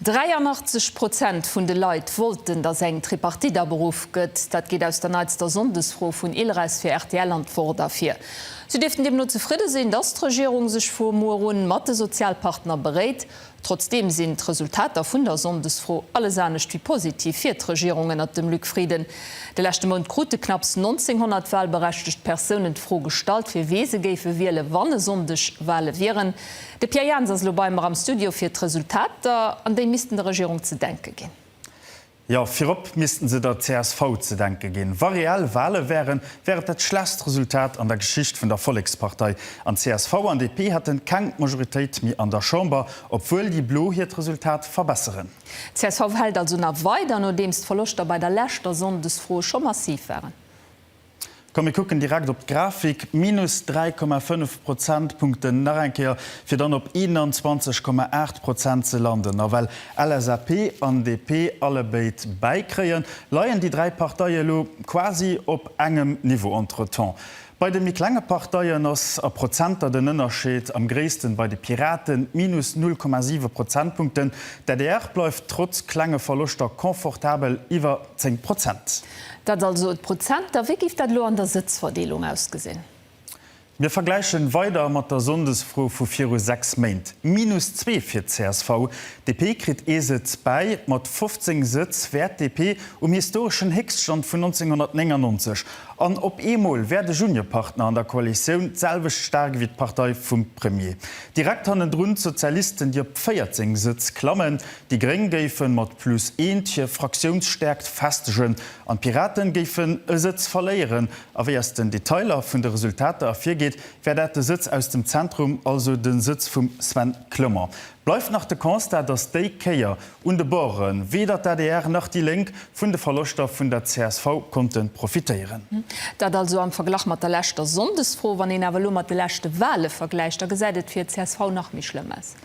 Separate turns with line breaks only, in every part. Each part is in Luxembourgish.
83 Prozent vun de Leit wollten, datt eng Tripartite aberuff gëtt. Dat geet aus der neitster Sonndesfro vun ILRES fir rtl an d'Wort ervir. Si dierften deemno zefridde sinn, datt d'Regierung sech vu muer un mat de Sozialpartner beréit. Trotzdeem sinn d'Resultater vun der Sonndesfro alles anescht wéi positiv fir d'Regierung ënnert dem Luc Frieden. De leschte Mount krute knapps 1900 walberechtegt Persounen d'Fro gestallt, fir wee se géife wielen, wann e Sonndeg Wale wieren. De Pierre Jans ass elo bei mer am Studio fir d'Resultater, an déi missten der Regierung ze denke ginn. Jo,
virop missten se der csv ze denke ginn. Wa reell Wale wären, wär et dat schlechst Resultat an der Geschicht vun der Vollekspartei, an csv an DP hätten keng Majoritéit méi an der Chamber, obwuel déi Blo hiert Resultat verbesseren. Csv hält
also nach weider, nodeems d'Verloschter bei der leschter Sonndesfro scho massiv waren.
Komm mir kucken direkt op d'Grafik, minus 3,5 Prozentpunkten nach eng Kéier, fir dann op 21,8 Prozent ze landen. A well LSAP an DP allebéid bäikréien, leien déi dräi Parteie elo quasi op engem Niveau. Entretemps bei de méi klenge Parteien ass a Prozenter den Ënnerscheed am gréissten, bei de Piraten, minus 0,7 Prozentpunkten. D'adr bleift trotz klenge Verloschter confortabel iwwer 10 Prozent. Dat also
d'Prozenter. Wéi géif dat elo an der Sëtzverdeelung ausgesinn? Mir
vergläichen weider mat der Sonndesfro vu viru 6 Méint, minus zwee fir d'CSV. DP kritt ee Sëtz bäi. Mat 15 Sëtz wär d'DP um historeschen Héchststand vun 1999. An op eemol wär de Juniorpartner an der Koalitioun d'selwecht staark ewéi d'Partei vum Premier. Direkt hannendrun d'Sozialisten, déi op 14 Sëtz klammen. Déi Gréng géife mat plus eent hir Fraktiounsstäerkt festegen an d'Piraten géifen e Sëtz verléieren. A wéi aus den Detailer vun de Resultater ervirgeet, wär dat de Sëtz aus dem Zentrum, also de Sëtz vum Sven Clement. Bleift nach de Constat, datt déi Kéier un de Borde weder d'ADR nach déi Lénk vun de Verloschter vun der csv konnte profitéieren. Dat also am
Verglach mat der leschter Sonndesfro. Wann een awer elo mat de leschte Wale vergläicht, da gesäit et fir d'CSV nach méi schlëmm aus.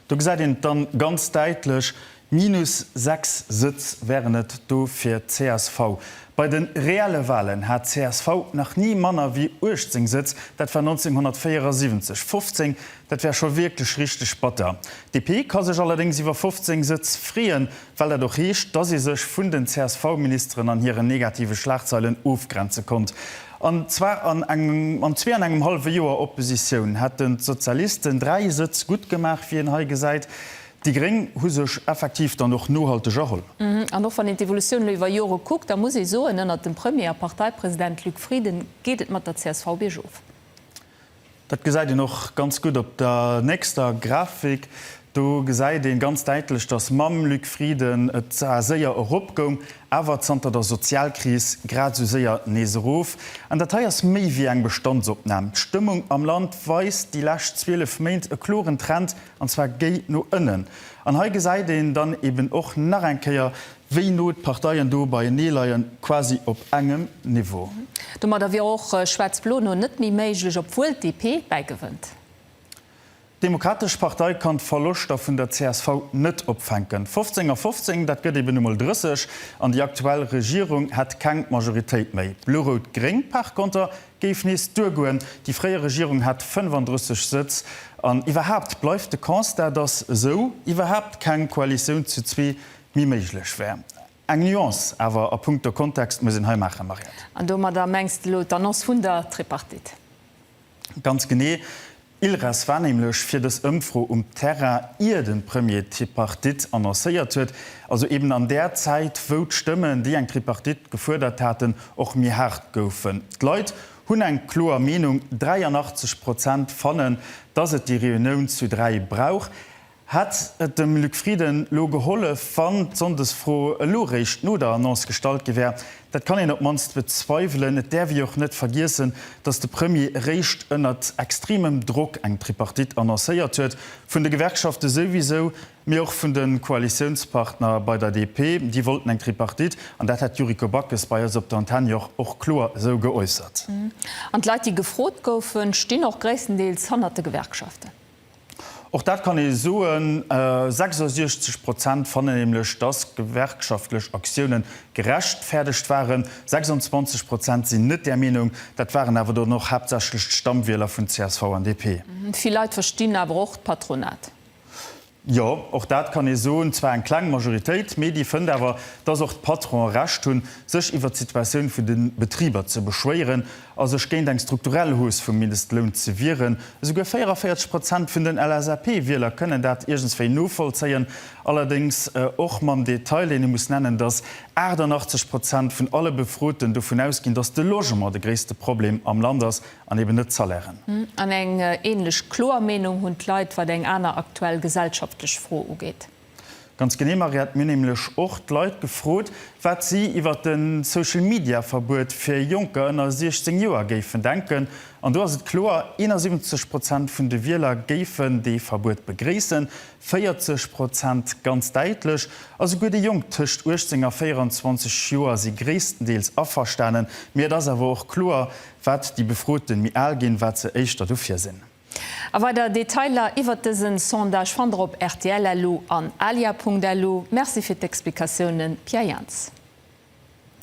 Do
gesäit een et dann ganz däitlech, minus 6 Sëtz wären et do fir csv. Bei de reelle Wahlen hat csv nach ni manner wéi 18 Sëtz, dat war 1974. 15, dat wär scho wierklech richteg batter. DP ka sech allerdéngs iwwer 15 Sëtz freeën, well dat och heescht, dass ee sech vun den CSV-Ministeren an hiren negative Schlagzeilen ofgrenze konnt. An zwar an engem zwee an engem hallwe Joer Oppositioun hätten d'Sozialisten dräi Sëtz gutt gemaach, wéi een hei gesäit. Déi Gréng hu sech effektiv dann och nohalteg erholl. An och wann een
d'Evolutioun elo iwwer Jore kuckt, da muss ee soen, ënnert dem Premier a Parteipresident Luc Frieden geet et mat der csv biergof.
Dat gesäit een och ganz gutt op der nächster Grafik. Do gesäit ee ganz däitlech, datt mam Luc Frieden et zwar séier erop goung, awer zanter der Sozialkris grad esou séier nees erof. An dat hei ass méi wéi eng Bestandsopnam. D'Stëmmung am Land weist déi lescht 12 Méint e kloren Trend, an zwar géi no ënnen. An hei gesäit een dann eben och nach eng Kéier, Wéi no d'Parteien do beienee leien, quasi op engem Niveau. Domadder wier
och Schwaarz-Blo no net méi méiglech, obwuel d'DP bäigewënnt.
D'Demokratesch Partei kann d'Verloschter vun der csv net opfänken. 15 a 15, dat gëtt eben emol 30, an déi aktuell Regierung hätt keng Majoritéit méi. Blo-Rout-Gréng par konter géif nees duergoen, déi fréier Regierung hat 35 Sëtz. An iwwerhaapt bleift de Constat, datt esou iwwerhaapt keng Koalitioun zu zwee méi méiglech wär. Eng Nuance awer a punkto Kontext muss een hei maachen, Mariette. An domadder mengs
de elo d'Annonce vun der Tripartite? Ganz
genee. Ilres war nämlech fir dës Ëmfro um Terrain, ier de Premier d'Tripartite annoncéiert huet, also eben an där Zäit, wou d'Stëmmen, déi eng Tripartite gefuerdert haten, och méi haart goufen. D'Leit hunn eng kloer Meenung, 83 Prozent fannen, dass et déi Reunioun zu dräi brauch. Hätt et dem Luc Frieden elo gehollef, wann d'Sonndesfro elo réischt no der Annonce gestallt gi wär? Dat kann een op d'mannst bezweiwelen. Et däerf ee jo och net vergiessen, datt de Premier eréischt ënnert extremem Drock eng Tripartite annoncéiert huet, vun de Gewerkschafte souwisou, mee och vun de Koalitiounspartner bei der DP. Déi wollten eng Tripartite, an dat hat d'Yuriko Backes bei eis op der Antenne jo och och kloer esou geäussert. An d'Leit, déi
gefrot goufen, stinn och gréisstendeels hannert de Gewerkschaften. Och
dat kann ee soen, 66 Prozent fannen nämlech, datt gewerkschaftlech Aktiounen gerechtfäerdegt waren. 26 Prozent sinn net där Meenung. Dat waren awer dann och haaptsächlech d'Stammwieler
vun
csv
an DP. Vill Leit
verstinn
awer
och
d'Patronat.
Jo, och dat kann ee soen. Zwar eng kleng Majoritéit, mee déi fënnt awer, datt och d'Patronen Recht hunn, sech iwwert d'Situatioun vun de Betriber ze beschwéieren. a sech géint eng strukturell Hausse vum Mindestloun ze wieren. Esouguer 44 Prozent vun den LSAP-Wieler kënnen dat iergendswéi novollzéien, allerdéngs och mam Detail, deen ee muss nennen, datt 88 Prozent vun alle Befroten dovun ausginn, datt de Logement de gréisste Problem am Land ass an eben net d'Salairen. An eng
änlech kloer Meenung hunn d'Leit, wat eng aner aktuell gesellschaftlech Fro ugeet. Ganz genee,
Mariette. Mir hunn nämlech och d'Leit gefrot, wat si iwwer de Social-Media-Verbuet fir Jonker ënner 16 Joer géifen denken. An do ass et kloer, 71 Prozent vun de Wieler géifen dee Verbuet begréissen, 40 Prozent ganz däitlech. A souguer déi Jonk tëscht 18 a 24 Joer si gréisstendeels averstanen. Mee et ass awer och kloer, wat déi Befroten méi al ginn, wat se éischter dofir sinn. A weider
Detailer iwwert dësen Sondage fannt der op rtl-elo an alia.elo. Merci fir d'Explikatiounen Pierre Jans.